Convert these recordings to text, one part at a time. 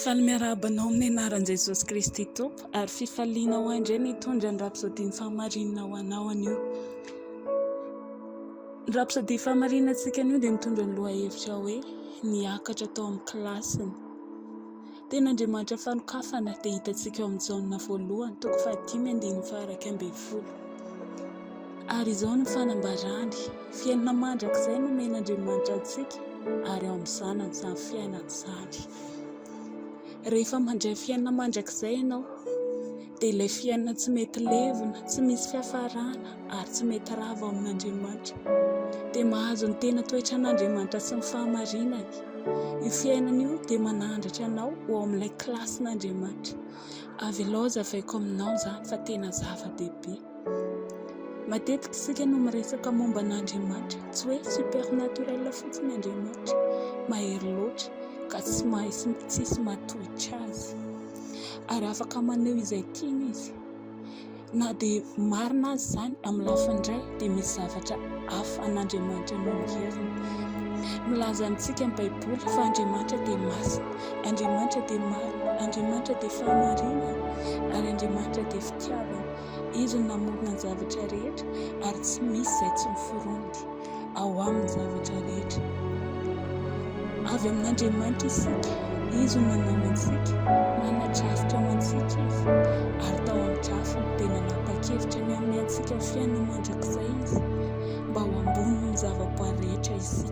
Faly miarahaba anao amin'ny anaran'i Jesosy Kristy Tompo ary fifaliana ho ahy ny hitondra ny rapsodian'ny fahamarinana ho anao anio. Ny rapsodia fahamarinana antsika anio dia mitondra ny lohahevitra hoe niakatra tao amin'ny kilasiny. Tena Andriamanitra fanokafana dia hitantsika ao amin'ny Jaona voalohany toko fahadimy andininy faha iraika ambin'ny folo. Ary izao no fanambarany, Fiainana mandrakizay no omen'Andriamanitra antsika, ary ao amin'ny Zanany izany fiainana izany. Rehefa mandray fiainana mandrakizay ianao, dia ilay fiainana tsy mety levona, tsy misy fiafarana, ary tsy mety rava ao amin'Andriamanitra, dia mahazo ny tena toetran'Andriamanitra sy ny fahamarinany. Io fiainana io dia manandratra anao ho ao amin'ilay kilasin'Andriamanitra. Avelao hazavaiko aminao izany fa tena zava-dehibe. Matetika isika no miresaka momba an'Andriamanitra, tsy hoe supernaturel fotsiny Andriamanitra, mahery loatra ka tsy mahay sy tsisy mahatohitra azy, ary afaka maneho izay tiany izy, na dia marina aza izany amin'ny lafiny iray dia misy zavatra hafa an'Andriamanitra noho ny herin'ny. Milaza amintsika ny baiboly fa Andriamanitra dia masina, Andriamanitra dia marina, Andriamanitra dia fahamarinana ary Andriamanitra dia fitiavana. Izy no namorona ny zavatra rehetra ary tsy misy izay tsy miforonty ao aminy zavatra rehetra. Avy amin'Andriamanitra isika, Izy no nanao antsika, nanana drafitra ho antsika Izy, ary tao amin'ny drafiny dia nanapa-kevitra ny hanome antsika fiainana mandrakizay Izy, mba ho ambony noho ny zavaboary rehetra isika.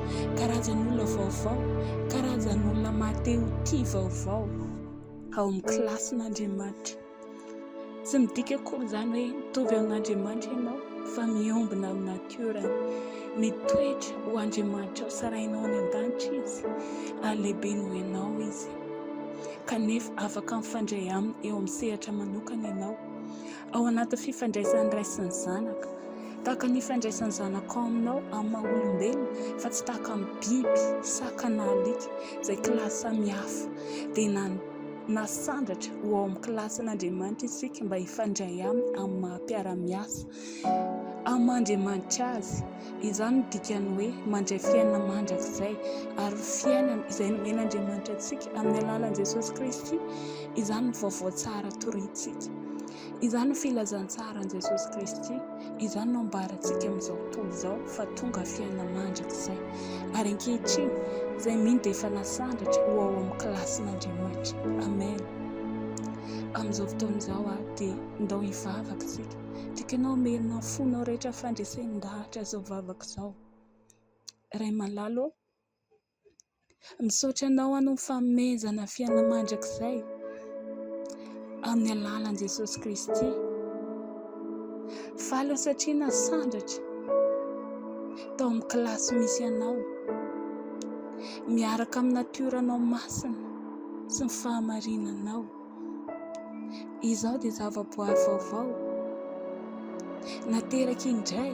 karazan'olona vaovao, karazan'olona maha te ho tia vaovao ao amin'ny kilasin'Andriamanitra. Tsy midika akory izany hoe mitovy amin'Andriamanitra ianao fa miombona amin'ny natiorany. Mitoetra ho Andriamanitra ao sarahinao any an-danitra izy ary lehibe noho ianao izy. Kanefa afaka mifandray aminy eo amin'ny sehatra manokana ianao. Ao anatin'ny fifandraisan'ny ray sy ny zanaka. Tahaka ny ifandraisan'ny zanakao aminao, amin'ny maha olombelona, fa tsy tahaka amin'ny biby, saka na alika, izay kilasy samihafa. Dia na nasandratra ho ao amin'ny kilasin'Andriamanitra isika mba hifandray aminy amin'ny maha mpiara-miasa. Aman-dRiamanitra azy. Izany no dikan'ny hoe mandray fiainana mandrakizay, ary ho fiainana izay nomen'Andriamanitra antsika amin'ny alalan'i Jesosy Kristy. Izany no vaovao tsara torintsika. Izany no filazantsaran'i Jesosy Kristy. Izany no ambarantsika amin'izao tontolo izao fa tonga fiainana mandrakizay. Ary ankehitriny, izay mino dia efa nasandratra ho ao amin'ny kilasin'Andriamanitra. Amen. Amin'izao fotoana izao dia ndao hivavaka isika. Tianao hamelona ny fonao rehetra fandresen-dahatra izao vavaka izao. Ray malala ô, misaotra anao aho noho ny fanomezana fiainana mandrakizay amin'ny alalan'i Jesosy Kristy. Faly aho satria nasandratra tao amin'ny kilasy misy anao, miaraka amin'ny natioranao masina sy ny fahamarinanao. Izaho dia zavaboary vaovao, nateraky indray.